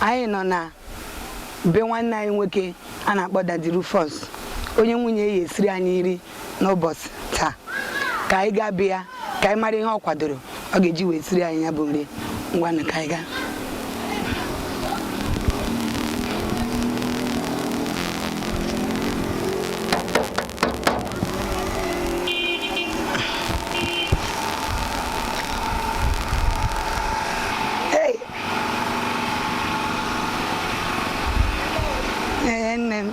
anyị nọ na be nwanne anyị nwoke a na-akpọ Daddy Rufus onye nwunye ya esiri anyị nri n'ụbọchị taa ka anyị gaa be ya ka anyị mara ihe ọ kwadoro ọ ga-eji wee siri anyị ya bụ nri ngwanụ ka anyị gaa Ee, nne m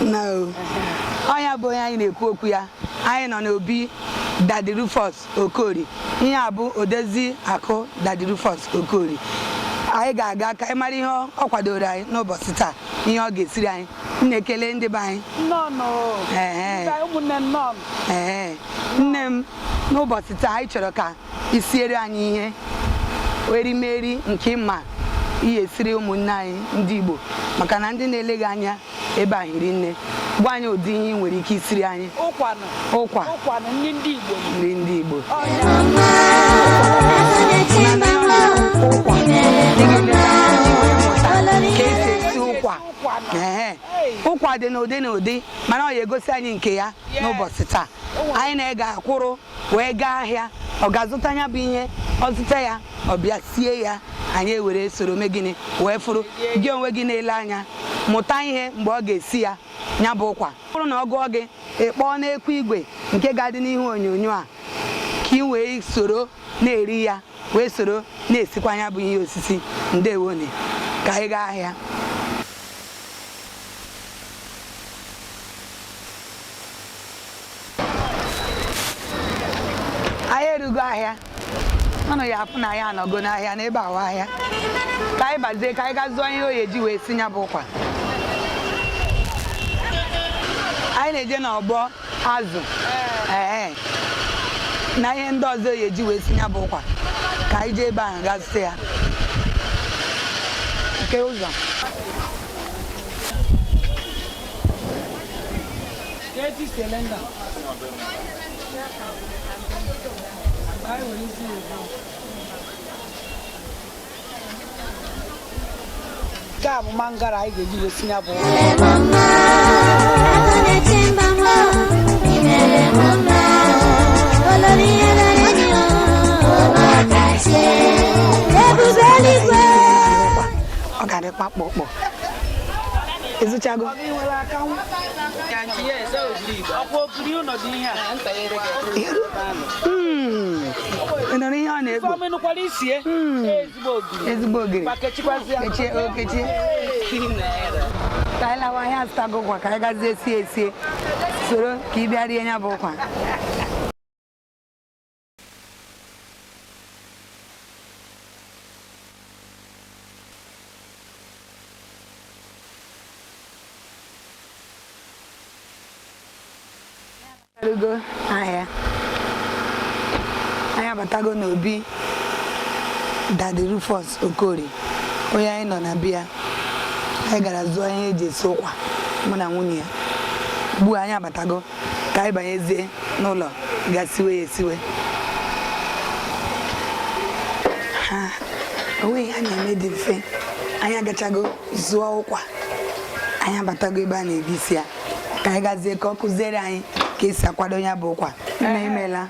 nnọọ ọ nya bụ onye anyị na-ekwu okwu ya anyị nọ n'obi Daddy Rufus Okorie ihe a bụ odezi akụ Daddy Rufus Okorie anyị ga-aga ka anyị mara ihe ọ ọ kwadoro anyị n'ụbọchị taa ihe ọ ga-esiri anyị nne kelee ndị be anyị nnọọnụ Ehe. Ndị ụmụnne nnọọnụ Ee, nne m n'ụbọchị taa anyị chọrọ ka i siere anyị ihe erimeri nke ị ma ị ya-esiri ụmụnne anyị ndị Igbo maka na ndị na-ele gị anya ebe a hiri nne gwa anyị ụdị ihe ị nwere ike isiri anyị ụkwa nri ndị Igbo ụkwa dị n'ụdị n'ụdị mana ọ ya-egosi anyị nke ya n'ụbọchị taa anyị na ya ga-akwụrụ wee gaa ahịa ọ ga-azụta nya bụ ihe ọ zụta ya ọ bịa sie ya anyị ewere soro mee gịnị wee fụrụ gị onwe gị na-ele anya mụta ihe mgbe ọ ga-esi ya nya bụ ụkwa ọ bụrụ na ọ gụọ gị ị kpọọ n'ekwu igwe nke ga-adị n'ihu onyonyo a ka ị wee soro na-eri ya wee soro na-esikwa nya bụ ihe osisi ndewonụ ka anyị gaa ahịa anyị erugo ahịa unu ya-afụ na anyị anọgo n'ahịa n'ebe a bụ ahịa ka anyị bazie ka anyị ga zụọ ihe ọ ya-eji wee sie ya bụ ụkwa anyị na-eje n'ọgbọ azụ ee na ihe ndị ọzọ ọ ya-eji wee sie ya bụ ụkwa ka anyị jee ebe ahụ ga zụta ya nke ụzọ nke a bụ mangara anyị ga-eji wee sie nya bụ ọ ga-adị kpakpọkpọ ị zụchago Mm. Ị nụrụ ihe ọ na-ekpo Mm. ezigbo ogiri kechie o kechie ka anyị lawa anyị azụtago ụkwa ka anyị gazie sie esie soro ka ị bịa rie ya bụ ụkwa ego ahịa anyị abatago n'obi Daddy Rufus Okorie onye anyị nọ na be ya anyị gara zụọ ihe e ji esi ụkwa mụ na nwunye ya ugbu a anyị abatago ka anyị banyezie n'ụlọ ga siwe ya esiwe o nweghị ihe a na-eme dị mfe anyị agachago zụọ ụkwa anyị abatago ebe a na-ebisi ya ka anyị gazie ka ọ kụziere anyị ka e si akwado ya bụ ụkwa nne imeela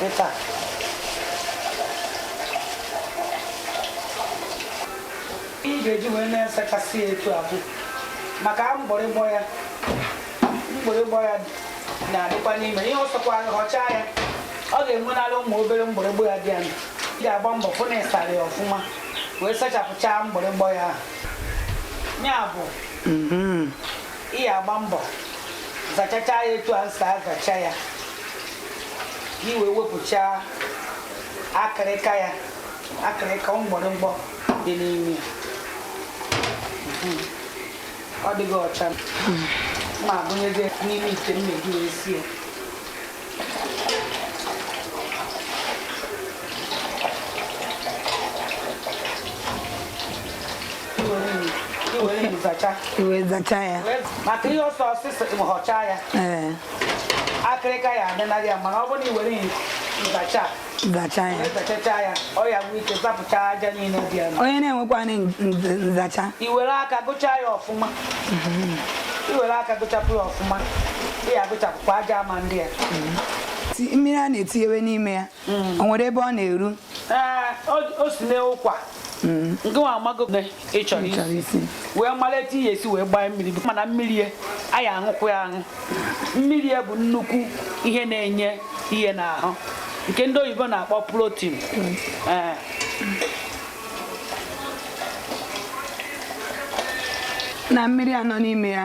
Weta. Ị ga-eji wee na-asachasị ya etu a bụ maka mgbịrịgbọ ya mgbịrịgbọ ya na-adịkwa n'ime ihe ọ sọkwa họcha ya ọ ga-enwenala ụmụ obere mgbịrịgbọ ya dị ya ị ga-agba mbọ fụ na ị sara ya ọfụma wee sachapụchaa mgbịrịgbọ ya ya bụ ị ya agba mbọ zachacha ya etu a m si azacha ya ka i wee wepụcha akịrịka ya akịrịka mgbịrịgbọ dị n'ime ya Mhm. ọ dịghị ọcha ma agụnyezie n'ime ite mmiri wee sie i wee zacha ya maka ihe ọsọ ọsịsọ họcha ya akịrịka ya adịnaghị ya mana ọ bụrụ na i were nzacha zacha ya zachacha ya ọ ya nwee ike zapụcha aja niile dị ya n'ahụ. onye na-enwekwanị nz- nzacha i were aka gụchaa ya ọfụma i were aka gụchapụ ya ọfụma ị ya agụchapụkwa aja ama ndị a ti- mmiri a na-etinyewe n'ime ya o nwere ebe ọ na-eru Ee, o- o si n'ụkwa mm. nke nwa amago na ị chọrọ isi wee mara etu ị ya esi wee gbaa mmiri mana mmiri ya anyị aṅụkwu ya aṅụ mmiri ya bụ nnukwu ihe na-enye ihe n'ahụ nke ndị oyibo na-akpọ protein mm. eh. na mmiri a nọ n'ime ya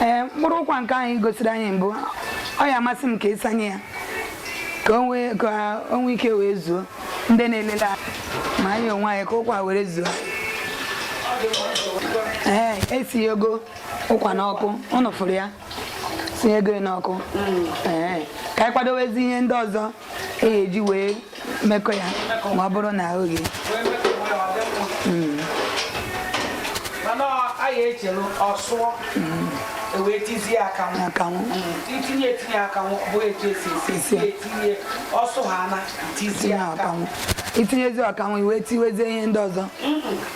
ee mkpụrụ ụkwa nke anyị gosiri anyị mbụ ọ ya amasị m ka ị sanye ya ka o nwee ike wee zuo ndị na-elele ma anyị onwe anyị ka ụkwa were zuo ee esinyego ụkwa n'ọkụ unu fụrụ ya sinyego n'ọkụ mm. ka anyị kwadowezi ihe ndị ọzọ e eji wee mekọ ya ma ọ bụrụ na o ghee mm. anyị echelu ọ sụọ mm. e wee tizie akanwụ akanwụ itinye etinye akanwụ bụ etu esi esi etinye ọ sụ ha na tizie akanwụ itinyezi akanwụ i wee tiwezie ihe ndị ọzọ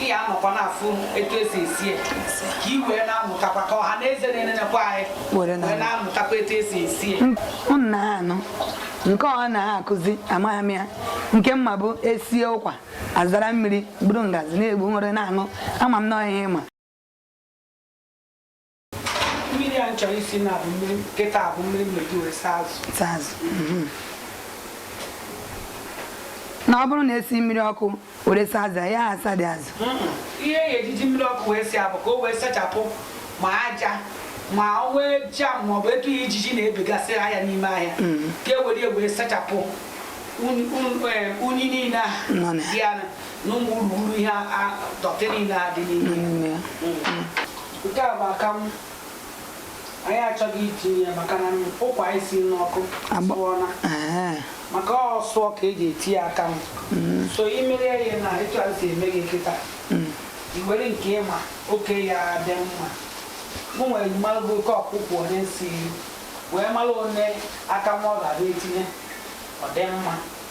ị ya anọkwa na-afụ etu esi esi ya ka i wee na-amụtakwa ka ọha na eze na-enenekwa anyị wee na-amụtakwa etu esi esi ya m na-anụ nke ọ na-akụzi amaghị m ya nke m ma bụ esie ụkwa azara mmiri buru ngazi na-egbu were na-aṅụ ama m na ọ ihe ị ma mmiri a chọrọ isi na bụ mmiri kịta bụ mmiri m eji wee saa azụ saa azụ mhm. na ọ bụrụ na esi mmiri ọkụ were saa azụ ya asa dị azụ ihe e ji eji mmiri ọkụ wee si ya bụ ka o wee sachapụ ma aja ma o nwee germ ma ọ bụ etu ihe ijiji na-ebegasị ahịa n'ime ahịa mhm. ka e were wee sachapụ unyi niile a dị ya na ụmụ urughuru ihe dọtị niile a dị n'ime Nke a bụ akanwụ. Anyị achọgo itinye ya maka na ụkwa anyị si n'ọkụ asụọla. Maka ọ sụọ ka eji etinye akanwụ. Mm. So i mere ya na etu a si eme gị kịta. Mm. I were nke ị ma oke ya dị mma. Mụ nwere mara bụ oke ụkwa one i si wee mara one akanwụ ọ ga-abịa etinye ọ dị mma.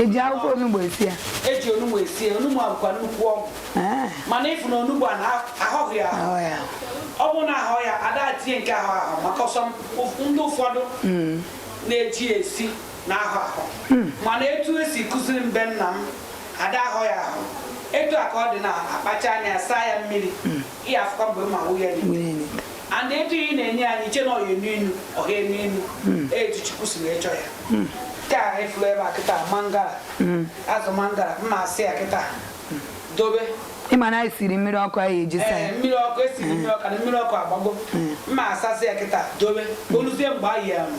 eji akwụkwọ onugbu esi ya eji onugbu esi ya onugbu a bụkwa nnukwu ọgwụ ah. mana ị fụ na onugbu a na ahọghị ya ọ bụ na ahọ ya ada etinye nke ahọ ahọ maka some ndị ụfọdụ hmm. na-eji esi na-ahọ ahọ hmm. mana etu esi kụziri m be nna m ada ahọ ya ahọ etu a ka ọ dị na a kpachaa anyị asaa ya mmiri hmm. ị ya-afụkwa mgbe m ya-awụ ya n'ite and etu ị na-ene ya i che na ọ ya-enu inu ọ ha enu inu hmm. etu chukwu si wee chọọ ya hmm. nke a ị fụrụ ebe a kịta mangala hmm. azụ mangala m ya-asasị ya kịta dobe ị ma na anyị siri mmiri ọkụ anyị eji saa ya mmiri ọkụ esiri mmiri ọkụ na mmiri ọkụ agbago m ya-asasị ya kịta dobe o luzie mgbe anyị ya ma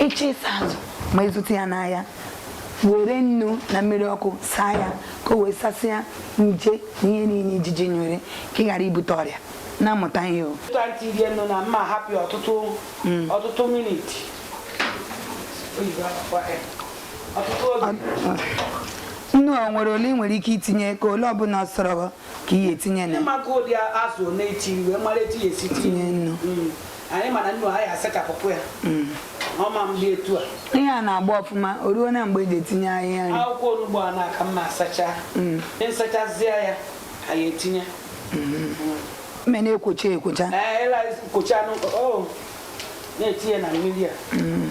ị chọọ ịsa azụ ma ị zụta ya n'ahịa were nnu na mmiri ọkụ saa ya ka o wee sasịa nje na ihe niile ijiji nyere ka ị ghara ibute ọrịa na-amụta ihe o ọtụtụ minit nnu o nwere ole ị nwere ike itinye ka ole ọbụla ọ sọrọ ka ị ya-etinye na tinye nnu anyị mana nnu a ya-asachapụkwa ya mm. ọma m dị etu a ihe a na-agba ọfụma o ruona mgbe eji etinye ahịhịa nri akwụkwọ onugbu a na-aka mma asacha mm. m sachazie ya a ya-etinye mm-hmm. mme na-ekwocha ekwocha kwocha na-etinye na mmiri a mm.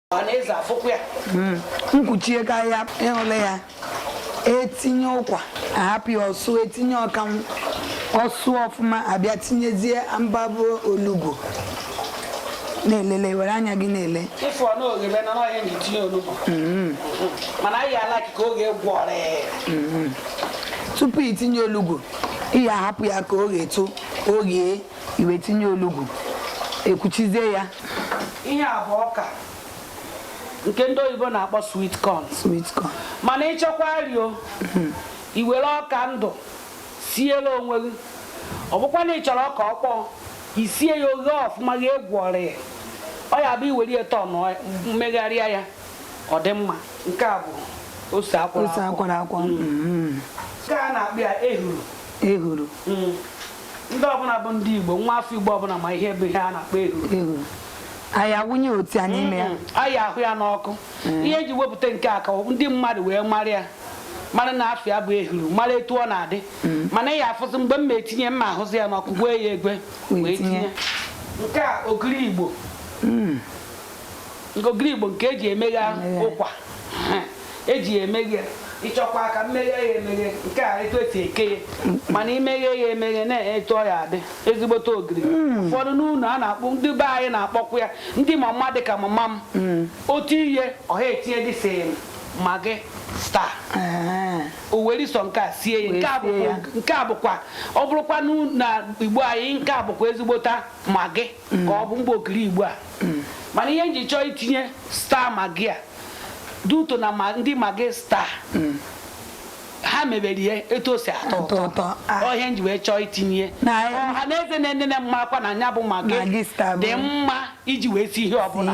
ọhaneze afụkwa ya m kwuchie hmm. ka ya ị hụla ya etinye ụkwa ahapụ ya ọ sụọ etinye akanwu ọ sụọ ọfụma abịa tinyezie mbabụ olugbu na-elele were anya gị na-ele ị fụ na o ghebena ọ ya na etinye olugbu hmm. mana anyị ala ka o ghe gwọrọ hmm. tupu i tinye olugbu ị ya-ahapụ ya ka o ghetuo eghe i wee tinye olugbu ekwuchizie ya ihe a bụ ọka nke ndị oyibo na-akpọ sweet corn sweet corn mana ị chọkwa rio hmm. i were ọka ndụ siere onwe gị ọ bụkwa na ị chọrọ ọka ọkpọọ i sie ya o ghee ọfụma gị agwọrịa ya ọ ya bụ i were ya turn megharịa ya ọ dị mma nke a bụ ose akwara akwara hmm. nke a na-akpọ ya ehuru ehuru hmm. ndị ọbụla bụ ndị Igbo nwa afọ Igbo ọbụla ma ihe bụ ihe a na-akpọ ehuru a ya-awụnye otu a n'ime ya a ya-ahụ ya n'ọkụ mm. ihe eji wepụta nke a ka ndị mmadụ wee mara ya mara na afa ya bụ ehuru mara etu ọ na-adị mm. mana ị ya-afụzi mgbe m ma etinye m ma ahụzi ya n'ọkụ gwee ya egwe wee tinye nke a ogiri Igbo mm. ogiri Igbo nke eji emeghe ụkwa eji ya emeghe ị chọkwa ka m meghee ya emeghe nke a etu esi eke ya mana i meghee ya emeghe nee etu ọ ya-adị ezigbote ogiri hmm. ụfọdụ n'ụlọ a na-akpọ ndị be anyị na-akpọkwa ya ndị mama dị ka mama m hmm. otu ihe ọha etinye dị sị magi star ah. o were sọ nke a sie ya nke a bụkwa ọ bụrụkwa na Igbo anyị nke a bụkwa ezigbote magi ka ọ bụ mgbe ogiri Igbo a mana ihe m ji chọọ itinye star magi a dị ụtọ na ndị magi star ha mebere ihe etu o si atọ ụtọ ọ ihe ah. m ji wee chọọ itinye ọha na eze na-enene m makwa na nya bụ magi dị mma iji wee sie ihe ọbụla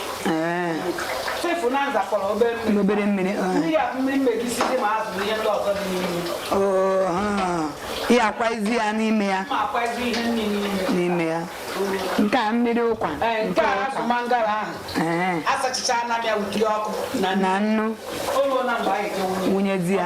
obere mmiri ya akwaizi ya n'ime ya n'ime ya nke a mmiri ụkwa na nnu wụnyezi ya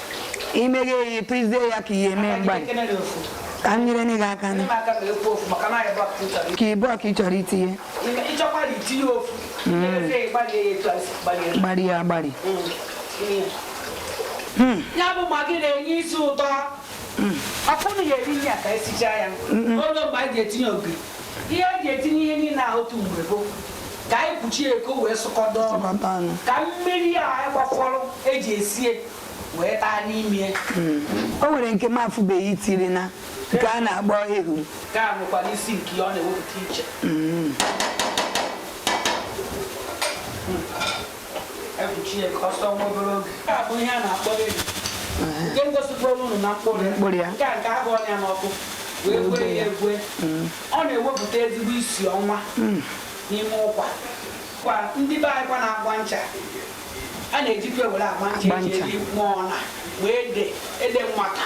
imeghe ya ịtụzie ya ka ihe eme mgbalị ka m nyere gị aka nke a bụ ọka ị chọrọ itinye gbari ya agbari ya bụ Maggi na-enye isi ụtọ afọ na ya eri ya ka esichaa ya olee mgbe a ga-etinye ogiri ihe e ji etinye ihe niile ahụ otu mgbe bụ ka anyị kpuchie ka o wee sụkọdo ọnụ ka mmiri a anyị gbafọrọ eji esie wee taa n'ime hmm. o nwere nke m afụbeghị i tiri na nke a na-akpọ ehu nke a nwekwara isi nke ọ na-ewepụta iche hmm. ekpuchie ka ọ sụọ nwa obere oge nke a bụ ihe a na-akpọ ehu nke m gosipụrụ unu na mkpụrụ ya nke a nke ahụọ ya n'ọkụ wee gwee ya egwe ọ na-ewepụta ezigbo isi ọma n'ime ụkwa kwa ndị be anyị kwa na-agba ncha a na-ejikwa ewere agba ncha eji eri nwa ọna ma ede ede mmata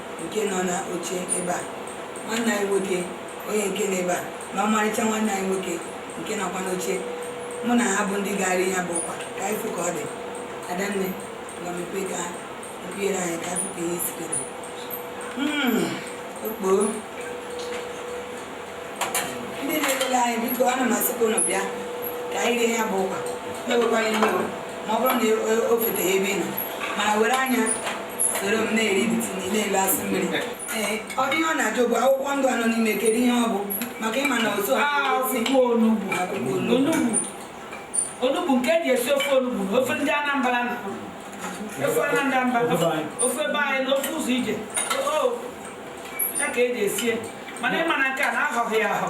nke nọ n'oche ebe a nwanne anyị nwoke onye nke nọ ebe a na ọmarịcha nwanne anyị nwoke nke nọkwa n'oche mụ na ha bụ ndị ga-ara ya bụ ụkwa ka anyị fụ ka ọ dị adanne na mepe ka mpiere anyị ka afụ ka ihe sikere okpoo ndị na-elele anyị biko ana m asịkwa ụnụ bịa ka anyị rie ya bụ ụkwa ewekwana iwe ma ọ bụrụ na o feteghị ebe ị nọ mana were anya soro m na-eri bitini na-elo asụ mmiri ee ọ dị ihe ọ na-ajụ bụ akwụkwọ ndụ a nọ n'ime kedu ihe ọ bụ maka ịma na otu ha akwụkwọ onugbu akwụkwọ onugbu onugbu onugbu nke eji esi ofe onugbu na ofe ndị anambra na ofe anambra ofe be anyị na ofe ụzọ ije o ya ka eji esie mana ịma na nke a na-ahọghị ya ahọ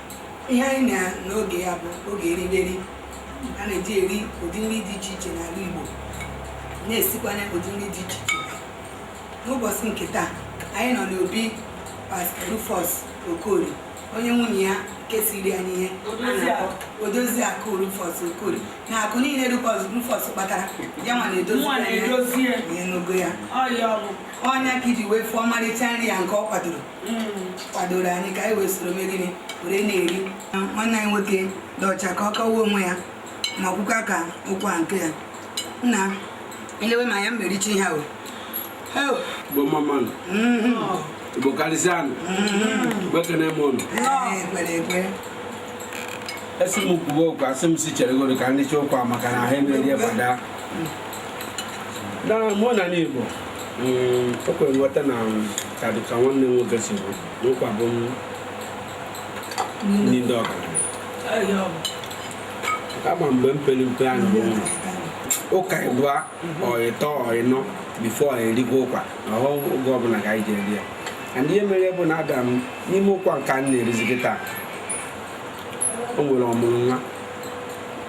ihe anyị nọ n'oge ya bụ oge eriberi a na-eji eri ụdị nri dị iche iche n'ala Igbo na-esikwanye ụdị nri dị iche iche n'ụbọchị nke taa anyị nọ n'obi Pastor Rufus Okoli onye nwunye ya ga-esiri anyị ihe odozi akụ Rufus Okoli na akụ niile Rufus kpatara ya nwa na-edozi ya n'ogo ya ọ nya ka i ji wee fụọ ọmarịcha nri ya nke ọ kwadoro kwadoro anyị ka anyị wee soro mee gịnị were na-eri nwanne anyị nwoke dị ọcha ka ọ kọwaa onwe ya ma kwukwa ka ụkwa nke ya nna elewe ma ya m richa ihe ahụ igbo mma mma nụ igbo karịsịa nụ igbo ekene m ụnụ esi m kwuwe okwu asị m si cheregoro ka ndị chekwa maka na ha emerie fada na mụ na n'igbo o kwere nghọta na ka dịka nwanne m nwoke si kwuo na ụkwa bụ nri ndị ọgaranya kama mgbe m pere mpe anyị bụ ụka ịbụa or ịtọ or ịnọ before erikwa ụkwa na ọhọ oge ọbụla ka anyị ji eri ya and ihe mere bụ na ada m n'ime ụkwa nke a m na-erizi kịta o nwere ọmụrụ nwa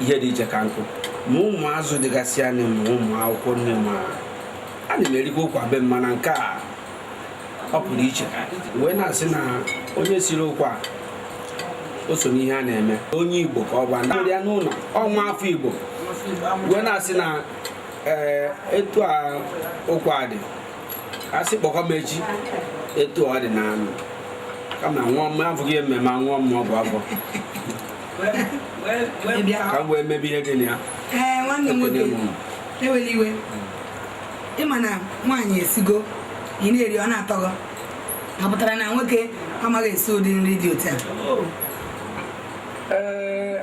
ihe dị iche ka nkụ ma ụmụ azụ dịgasị na ya ma ụmụ akwụkwọ nni ma a na m erikwa ụkwa be m mana nke a ọ pụrụ iche wee na-asị na onye siri ụkwa o so n'ihe a na-eme onye igbo ka ọ bụ ndị ya n'ụlọ ọ nwa afọ igbo wee na-asị na ee etu a ụkwa dị asị kpọkwa m echi etu ọ dị n'ọnụ kama nwa m abụghị ememe nwa m ọgwụ afọ ka m wee mebe ihe dị na ya ee nwanne m Ekwene nwoke m. ewela iwe ịma na nwaanyị esigo ị na-eri ọ na-atọ gị ọ pụtara na nwoke amaghị esi ụdị nri dị otu a Ee,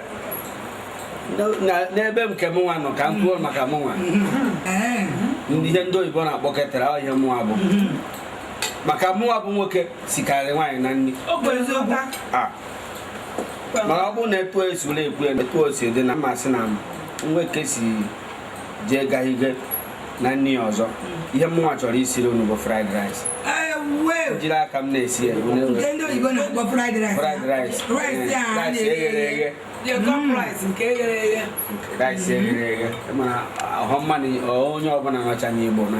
na- na- n'ebe nke m nwa nọ ka m kwuo maka m nwa Ee, ihe ndị oyibo na-akpọ caterer ọ ihe mụnwa bụ maka mụnwa bụ nwoke sikarị nwaanyị na nri o kwere eziokwu a mana ọ bụrụ na etu esi ụlọ ekwu ya etu o si dị na m asị na m nwee ike si jee gahihe na nri ọzọ ihe mụnwa chọrọ isiri unu bụ fried rice jiri aka m na-esi ya ndị oyibo na-akpọ fried rice fried rice rice a na-eghe eghe rice nke eghere eghe rice eghere eghe mana ọhọ mmanụ onye ọbụla nọcha n'igbo na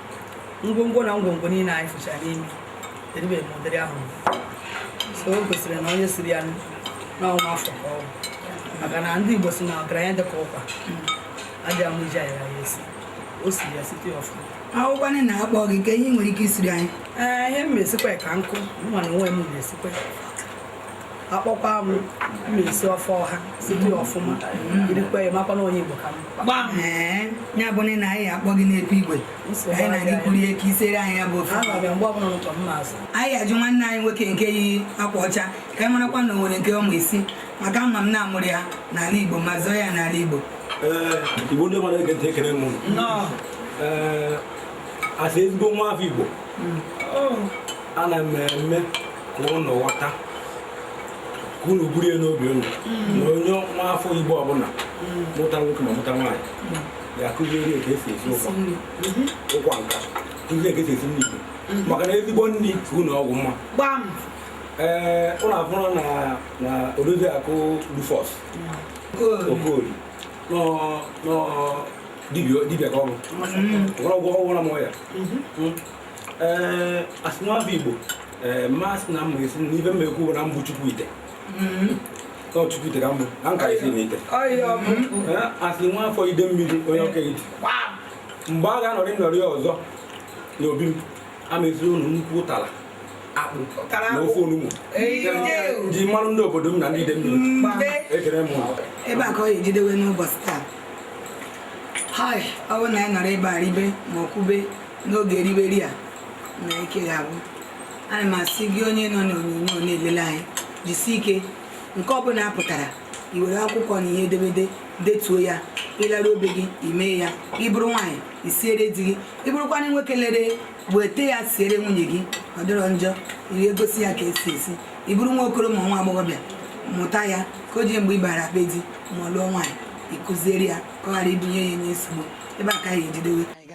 ngwongwo na ngwongwo niile anyị fụchara n'ime eribeghị m ụdịrị ahụ so o gosiri na onye siri ya na ọ nwa afọ ka ọ bụ maka na ndị Igbo si na ọgaranya dịka ụkwa adịghị mma iji ayara ya esi o siri ya site ọfụma ọ bụkwanụ na akpọ gị kee ihe ị nwere ike isiri anyị ee ihe m ma esikwa ka nkụ mụwa na onwe m na-esikwa akpọkwa m m ma esi ofe ọha site ọfụma irikwa ya makwa na onye Igbo ka m ee ya bụ na anyị akpọ gị n'ekwu igwe anyị na gị kwuru ihe ka i siere anyị ya bụ ofe anọ bịa mgbe ọbụla n'ụtọ m na-azụ anyị ajụ nwanne anyị nwoke nke yi akwa ọcha ka anyị marakwa na o nwere nke ọ ma esi maka ama m na a mụrụ ya n'ala Igbo ma zụọ ya n'ala Igbo ee igbo ndị mmadụ ege ntị ekele m unu. nnọọ ee asị ezigbo nwa afọ igbo ana m eme ka unu ghọta ka unu buru ya n'obi unu na onye nwa afọ igbo ọbụla mụta nwoke ma mụta nwaanyị ga-akụziri ya ka esi esi ụkwa ụkwa nka kụzie ka esi esi nri igbo maka na ezigbo nri ka ịṅụ ọgwụ mma gbam ee ụlọ abụrụ na na odozi akụ rufus okoli nọ nọ dibịa dibịa ka ọrụ ọgwụ ọgwụ na mụọ ya ee asị m nwa afọ igbo ee mmasị na mma esi n'ife m ekwu bụ na m bụ chukwu ite ọ chukwu ite ka m bụ na nka isi na ite asị nwa afọ ide mmiri onye ọka ite mgbe a ga-anọrị nnọrị ọzọ n'obi m a m esiri unu nnukwu ụtara akpụ na ofe onugbu ji mmanụ ndị obodo m na ndị ide mmiri ekele m ebe a ka ọ ga-ejidewe n'ụbọchị taa ọ bụrụ na anyị nọrọ ebe a ribe ma ọ kwube n'oge eriberi a na ike ga-agwụ ana m asị gị onye nọ n'onyonyo na-elele anyị jisi ike nke ọbụla a pụtara i were akwụkwọ na ihe edemede detuo ya ị laruo be gị i mee ya ịbụrụ nwaanyị isiere di gị ịbụrụkwana nwoke lere weta ya siere nwunye gị ọ dịrọ njọ i gosi ya ka esi esi ịbụrụ nwa okoro ma nwa agbọghọbịa mụta ya ka o ji mgbe ị bara be di ma ọ lụọ nwaanyị ịkụziere ya ka ọ ghara ịbụ onye ya enye nsogbu ebe a ka a ya-ejidewe